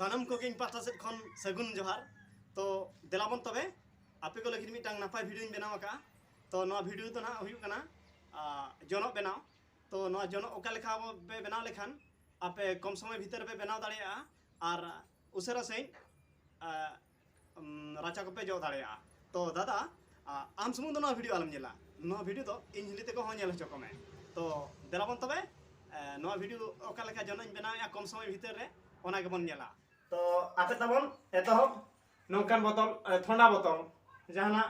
ᱥᱟᱱᱟᱢ ᱠᱚᱜᱮ ᱤᱧ ᱯᱟᱦᱴᱟ ᱥᱮᱫ ᱠᱷᱚᱱ ᱥᱟᱹᱜᱩᱱ ᱡᱚᱦᱟᱨ ᱛᱚ ᱫᱮᱞᱟᱵᱚᱱ ᱛᱚᱵᱮ ᱟᱯᱮ ᱠᱚ ᱞᱟᱹᱜᱤᱫ ᱢᱤᱫᱴᱟᱝ ᱱᱟᱯᱟᱭ ᱵᱷᱤᱰᱤᱭᱳᱧ ᱵᱮᱱᱟᱣ ᱟᱠᱟᱫᱼᱟ ᱛᱚ ᱱᱚᱣᱟ ᱵᱷᱤᱰᱤᱭᱳ ᱫᱚ ᱱᱟᱦᱟᱜ ᱦᱩᱭᱩᱜ ᱠᱟᱱᱟ ᱡᱚᱱᱚᱜ ᱵᱮᱱᱟᱣ ᱛᱚ ᱱᱚᱣᱟ ᱡᱚᱱᱚᱜ ᱚᱠᱟ ᱞᱮᱠᱟ ᱯᱮ ᱵᱮᱱᱟᱣ ᱞᱮᱠᱷᱟᱱ ᱟᱯᱮ ᱠᱚᱢ ᱥᱚᱢᱚᱭ ᱵᱷᱤᱛᱟᱹᱨ ᱯᱮ ᱵᱮᱱᱟᱣ ᱫᱟᱲᱮᱭᱟᱜᱼᱟ ᱟᱨ ᱩᱥᱟᱹᱨᱟ ᱥᱟᱺᱦᱤᱡ ᱨᱟᱪᱟ ᱠᱚᱯᱮ ᱡᱚᱜ ᱫᱟᱲᱮᱭᱟᱜᱼᱟ ᱛᱚ ᱫᱟᱫᱟ ᱟᱢ ᱥᱩᱢᱩᱝ ᱫᱚ ᱱᱚᱣᱟ ᱵᱷᱤᱰᱤᱭᱳ ᱟᱞᱚᱢ ᱧᱮᱞᱟ ᱱᱚᱣᱟ ᱵᱷᱤᱰᱤᱭᱳ ᱫᱚ ᱤᱧ ᱦᱤᱞᱤ ᱛᱮᱠᱚ ᱦᱚᱸ ᱧᱮᱞ ᱦᱚᱪᱚ ᱠᱚᱢᱮ ᱛᱚ ᱫᱮᱞᱟ ᱵᱚᱱ ᱛᱚᱵᱮ ᱱᱚᱣᱟ ᱵᱷᱤᱰᱤᱭᱳ ᱚᱠᱟ ᱞᱮᱠᱟ ᱡᱚᱱᱚᱧ ᱵᱮᱱᱟᱣᱮᱜᱼᱟ ᱠᱚᱢ ᱥᱚᱢᱚᱭ ᱵᱷᱤᱛᱟᱹᱨ ᱨᱮ ᱚᱱᱟ ᱜᱮᱵᱚᱱ ᱧᱮᱞᱟ ᱛᱚ ᱟᱯᱮ ᱛᱟᱵᱚᱱ ᱮᱛᱚᱦᱚᱵ ᱱᱚᱝᱠᱟᱱ ᱵᱚᱛᱚᱞ ᱛᱷᱚᱱᱰᱟ ᱵᱚᱛᱚᱞ ᱡᱟᱦᱟᱱᱟᱜ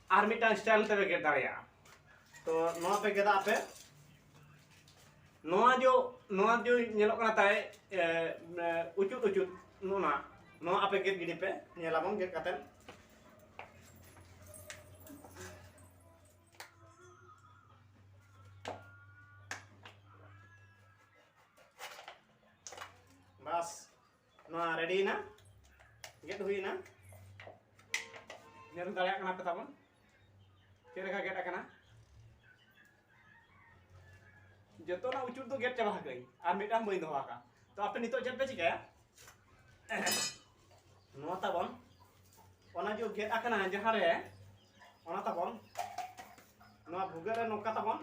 ᱟᱨ ᱢᱤᱫᱴᱟᱝ ᱥᱴᱟᱭᱤᱞ ᱛᱮᱯᱮ ᱜᱮᱫ ᱫᱟᱲᱮᱭᱟᱜᱼᱟ ᱛᱚ ᱱᱚᱣᱟ ᱯᱮ ᱜᱮᱫᱟ ᱟᱯᱮ ᱱᱚᱣᱟ ᱡᱚ ᱱᱚᱣᱟ ᱡᱚ ᱧᱮᱞᱚᱜ ᱠᱟᱱᱟ ᱛᱟᱭ ᱩᱪᱩᱫ ᱩᱪᱩᱫ ᱱᱚᱣᱟ ᱱᱚᱣᱟ ᱟᱯᱮ ᱜᱮᱫ ᱜᱤᱰᱤ ᱯᱮ ᱧᱮᱞᱟᱵᱚᱱ ᱜᱮᱫ ᱠᱟᱛᱮ ᱱᱚᱣᱟ ᱨᱮᱰᱤᱭᱮᱱᱟ ᱜᱮᱫ ᱦᱩᱭᱮᱱᱟ ᱧᱮᱞ ᱫᱟᱲᱮᱭᱟᱜ ᱠᱟᱱᱟ ᱯᱮ ᱛᱟᱵᱚᱱ ᱪᱮᱫ ᱞᱮᱠᱟ ᱜᱮᱫ ᱟᱠᱟᱱᱟ ᱡᱚᱛᱚᱱᱟᱜ ᱩᱪᱩᱨ ᱫᱚ ᱜᱮᱫ ᱪᱟᱵᱟ ᱟᱠᱟᱫᱟᱹᱧ ᱟᱨ ᱢᱤᱫᱴᱟᱝ ᱵᱟᱹᱧ ᱫᱚᱦᱚ ᱟᱠᱟᱫ ᱛᱚ ᱟᱯᱮ ᱱᱤᱛᱚᱜ ᱪᱮᱫ ᱯᱮ ᱪᱤᱠᱟᱹᱭᱟ ᱱᱚᱣᱟ ᱛᱟᱵᱚᱱ ᱚᱱᱟ ᱡᱚ ᱜᱮᱫ ᱟᱠᱟᱱᱟ ᱡᱟᱦᱟᱸ ᱨᱮ ᱚᱱᱟ ᱛᱟᱵᱚᱱ ᱱᱚᱣᱟ ᱵᱷᱩᱜᱟᱹᱜ ᱨᱮ ᱱᱚᱝᱠᱟ ᱛᱟᱵᱚᱱ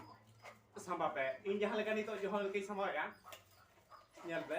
ᱥᱟᱢᱵᱟᱣ ᱯᱮ ᱤᱧ ᱡᱟᱦᱟᱸ ᱞᱮᱠᱟ ᱱᱤᱛᱚᱜ ᱡᱚᱦᱚ ᱞᱮᱠᱟᱧ ᱥᱟᱢᱵᱟᱣᱮᱫᱼᱟ ᱧᱮᱞ ᱯᱮ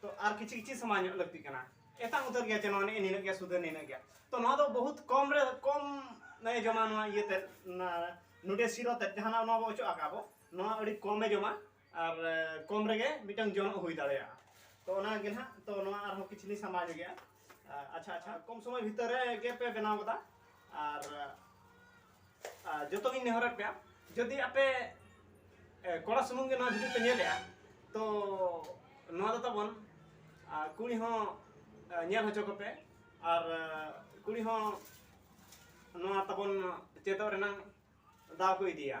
ᱛᱚ ᱟᱨ ᱠᱤᱪᱷᱤ ᱠᱤᱪᱷᱤ ᱥᱟᱢᱟᱱ ᱧᱚᱜ ᱞᱟᱹᱠᱛᱤᱜ ᱠᱟᱱᱟ ᱮᱛᱟᱝ ᱩᱛᱟᱹᱨ ᱜᱮᱭᱟ ᱪᱮ ᱱᱚᱣᱟ ᱱᱮᱜᱼᱮ ᱱᱤᱱᱟᱹᱜ ᱜᱮᱭᱟ ᱥᱩᱫᱷᱟᱹ ᱱᱤᱱᱟᱹᱜ ᱜᱮᱭᱟ ᱛᱚ ᱱᱚᱣᱟ ᱫᱚ ᱵᱚᱦᱩᱛ ᱠᱚᱢ ᱨᱮ ᱠᱚᱢ ᱱᱚᱣᱟ ᱡᱚᱢᱟ ᱱᱚᱣᱟ ᱤᱭᱟᱹ ᱛᱮ ᱱᱚᱰᱮ ᱥᱤᱨᱚ ᱛᱮ ᱡᱟᱦᱟᱱᱟᱜ ᱱᱚᱣᱟ ᱵᱚ ᱚᱪᱚᱜ ᱟᱠᱟᱫ ᱵᱚ ᱱᱚᱣᱟ ᱟᱹᱰᱤ ᱠᱚᱢᱮ ᱡᱚᱢᱟ ᱟᱨ ᱠᱚᱢ ᱨᱮᱜᱮ ᱢᱤᱫᱴᱟᱝ ᱡᱚᱱᱚᱜ ᱦᱩᱭ ᱫᱟᱲᱮᱭᱟᱜᱼᱟ ᱛᱚ ᱚᱱᱟ ᱜᱮ ᱱᱟᱦᱟᱜ ᱛᱚ ᱱᱚᱣᱟ ᱟᱨᱦᱚᱸ ᱠᱤᱪᱷᱤ ᱞᱤᱧ ᱥᱟᱢᱵᱟᱣ ᱧᱚᱜᱮᱜᱼᱟ ᱟᱪᱪᱷᱟ ᱟᱪᱪᱷᱟ ᱠᱚᱢ ᱥᱚᱢᱚᱭ ᱵᱷᱤᱛᱟᱹᱨ ᱨᱮ ᱜᱮ ᱯᱮ ᱵᱮᱱᱟᱣ ᱠᱟᱫᱟ ᱟᱨ ᱡᱚᱛᱚ ᱜᱤᱧ ᱱᱮᱦᱚᱨᱮᱫ ᱯᱮᱭᱟ ᱡᱩᱫᱤ ᱟᱯᱮ ᱠᱚᱲᱟ ᱥᱩᱢᱩᱝ ᱜᱮ ᱱᱚᱣᱟ ᱵᱷᱤᱰᱤᱭᱳ ᱯᱮ ᱧᱮᱞᱮᱜᱼᱟ ᱛᱚ ᱱᱚᱣᱟ ᱫᱚ ᱛᱟᱵᱚᱱ ᱠᱩᱲᱤ ᱦᱚᱸ ᱧᱮᱞ ᱦᱚᱪᱚ ᱠᱚᱯᱮ ᱟᱨ ᱠᱩᱲᱤ ᱦᱚᱸ ᱱᱚᱣᱟ ᱛᱟᱵᱚᱱ ᱪᱮᱫᱚᱜ ᱨᱮᱱᱟᱜ ᱫᱟᱣ ᱠᱚ ᱤᱫᱤᱭᱟ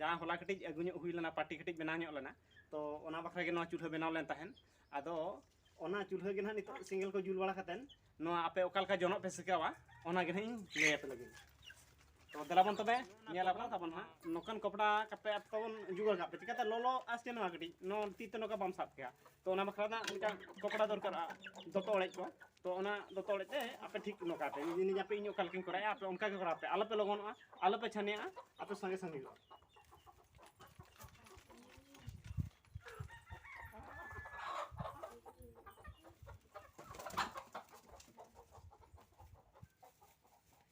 ᱡᱟᱦᱟᱸ ᱦᱚᱞᱟ ᱠᱟᱹᱴᱤᱡ ᱟᱹᱜᱩ ᱧᱚᱜ ᱦᱩᱭ ᱞᱮᱱᱟ ᱯᱟᱴᱤ ᱠᱟᱹᱴᱤᱡ ᱵᱮᱱᱟᱣ ᱧᱚᱜ ᱞᱮᱱᱟ ᱛᱚ ᱚᱱᱟ ᱵᱟᱠᱷᱨᱟ ᱜᱮ ᱱᱚᱣᱟ ᱪᱩᱞᱦᱟᱹ ᱵᱮᱱᱟᱣ ᱞᱮᱱ ᱛᱟᱦᱮᱱ ᱟᱫᱚ ᱚᱱᱟ ᱪᱩᱞᱦᱟᱹ ᱜᱮ ᱱᱟᱦᱟᱜ ᱱᱤᱛᱚᱜ ᱥᱮᱸᱜᱮᱞ ᱠᱚ ᱡᱩᱞ ᱵᱟᱲᱟ ᱠᱟᱛᱮᱱ ᱱᱚᱣᱟ ᱟᱯᱮ ᱚᱠᱟ ᱞᱮᱠᱟ ᱡᱚᱱᱚᱜ ᱯᱮ ᱥᱮᱠᱟᱣᱟ ᱚᱱᱟ ᱜᱮ ᱱᱟᱦᱟᱜ ᱤᱧ ᱞᱟᱹᱭ ᱟᱯᱮ ᱞᱟᱹᱜᱤᱫ ᱛᱚ ᱫᱮᱞᱟ ᱵᱚᱱ ᱛᱚᱵᱮ ᱧᱮᱞ ᱟᱵᱚᱱ ᱛᱟᱵᱚᱱ ᱱᱟᱦᱟᱜ ᱱᱚᱝᱠᱟᱱ ᱠᱚᱯᱲᱟ ᱠᱟᱯᱮ ᱟᱯᱮ ᱵᱚᱱ ᱡᱩᱜᱟᱲ ᱠᱟᱜ ᱯᱮ ᱪᱤᱠᱟᱛᱮ ᱞᱚᱞᱚ ᱟᱥ ᱪᱮ ᱱᱚᱣᱟ ᱠᱟᱹᱴᱤᱡ ᱱᱚᱣᱟ ᱛᱤ ᱛᱮ ᱱᱚᱝᱠᱟ ᱵᱟᱢ ᱥᱟᱵ ᱠᱮᱭᱟ ᱛᱚ ᱚᱱᱟ ᱵᱟᱠᱷᱨᱟ ᱱᱟᱦᱟᱜ ᱢᱤᱫᱴᱟᱝ ᱠᱚᱯᱲᱟ ᱫᱚᱨᱠᱟᱨᱚᱜᱼᱟ ᱫᱚᱛᱚ ᱚᱲᱮᱡ ᱠᱚ ᱛᱚ ᱚᱱᱟ ᱫᱚ ᱛᱚᱲᱮᱡ ᱛᱮ ᱟᱯᱮ ᱴᱷᱤᱠ ᱱᱚᱝᱠᱟ ᱯᱮ ᱤᱧ ᱟᱯᱮ ᱤᱧ ᱚᱠᱟ ᱞᱮᱠᱟᱧ ᱠᱚᱨᱟᱣᱟ ᱟᱯᱮ ᱚᱱᱠᱟ ᱜᱮ ᱠᱚᱨᱟᱣ ᱯᱮ ᱟᱞᱚᱯᱮ ᱞᱚᱜᱚᱱᱚᱜᱼᱟ ᱟᱞᱚᱯᱮ ᱪᱷᱟᱱᱮᱜᱼᱟ ᱟᱯᱮ ᱥᱟᱸᱜᱮ ᱥᱟᱸᱜᱮ ᱦᱩᱭᱩᱜᱼᱟ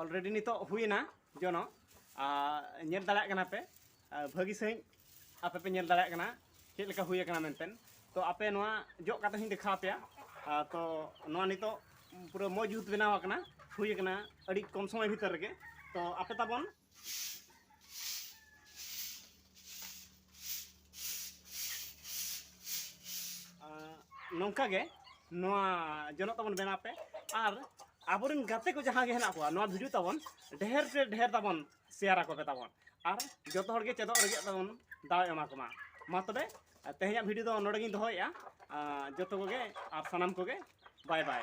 ᱚᱞᱨᱮᱰᱤ ᱱᱤᱛᱚᱜ ᱦᱩᱭᱮᱱᱟ ᱡᱚᱱᱚ ᱧᱮᱞ ᱫᱟᱲᱮᱭᱟᱜ ᱠᱟᱱᱟ ᱯᱮ ᱵᱷᱟᱹᱜᱤ ᱥᱟᱺᱦᱤᱡ ᱟᱯᱮ ᱯᱮ ᱧᱮᱞ ᱫᱟᱲᱮᱭᱟᱜ ᱠᱟᱱᱟ ᱪᱮᱫ ᱞᱮᱠᱟ ᱦᱩᱭ ᱟᱠᱟᱱᱟ ᱢᱮᱱᱛᱮ ᱛᱚ ᱟᱯᱮ ᱱᱚᱣᱟ ᱡᱚᱜ ᱠᱟᱛᱮ ᱦᱚᱧ ᱫᱮᱠᱷᱟᱣ ᱟᱯᱮᱭᱟ ᱛᱚ ᱱᱚᱣᱟ ᱱᱤᱛᱚᱜ ᱯᱩᱨᱟᱹ ᱢᱚᱡᱽ ᱡᱩᱛ ᱵᱮᱱᱟᱣ ᱟᱠᱟᱱᱟ ᱦᱩᱭ ᱟᱠᱟᱱᱟ ᱟᱹᱰᱤ ᱠᱚᱢ ᱥᱚᱢᱚᱭ ᱵᱷᱤᱛᱤᱨ ᱨᱮᱜᱮ ᱛᱚ ᱟᱯᱮ ᱛᱟᱵᱚᱱ ᱱᱚᱝᱠᱟ ᱜᱮ ᱱᱚᱣᱟ ᱡᱚᱱᱚᱜ ᱛᱟᱵᱚᱱ ᱵᱮᱱᱟᱣ ᱯᱮ ᱟᱨ ᱟᱵᱚᱨᱮᱱ ᱜᱟᱛᱮ ᱠᱚ ᱡᱟᱦᱟᱸ ᱜᱮ ᱦᱮᱱᱟᱜ ᱠᱚᱣᱟ ᱱᱚᱣᱟ ᱵᱷᱤᱰᱤᱭᱳ ᱛᱟᱵᱚᱱ ᱰᱷᱮᱨ ᱛᱮ ᱰᱷᱮᱨ ᱛᱟᱵᱚᱱ ᱥᱮᱭᱟᱨ ᱟᱠᱚ ᱯᱮ ᱛᱟᱵᱚᱱ ᱟᱨ ᱡᱚᱛᱚ ᱦᱚᱲ ᱜᱮ ᱪᱮᱫᱚᱜ ᱨᱮᱜᱮ ᱛᱟᱵᱚᱱ ᱫᱟᱣ ᱮᱢᱟ ᱠᱚᱢᱟ ᱢᱟ ᱛᱚᱵᱮ ᱛᱮᱦᱮᱧᱟᱜ ᱵᱷᱤᱰᱤᱭᱳ ᱫᱚ ᱱᱚᱰᱮ ᱜᱤᱧ ᱫᱚᱦᱚᱭᱮᱫᱼᱟ ᱡᱚᱛᱚ ᱠᱚᱜᱮ ᱟᱨ ᱥᱟᱱᱟᱢ ᱠᱚᱜᱮ ᱵᱟᱭ ᱵᱟᱭ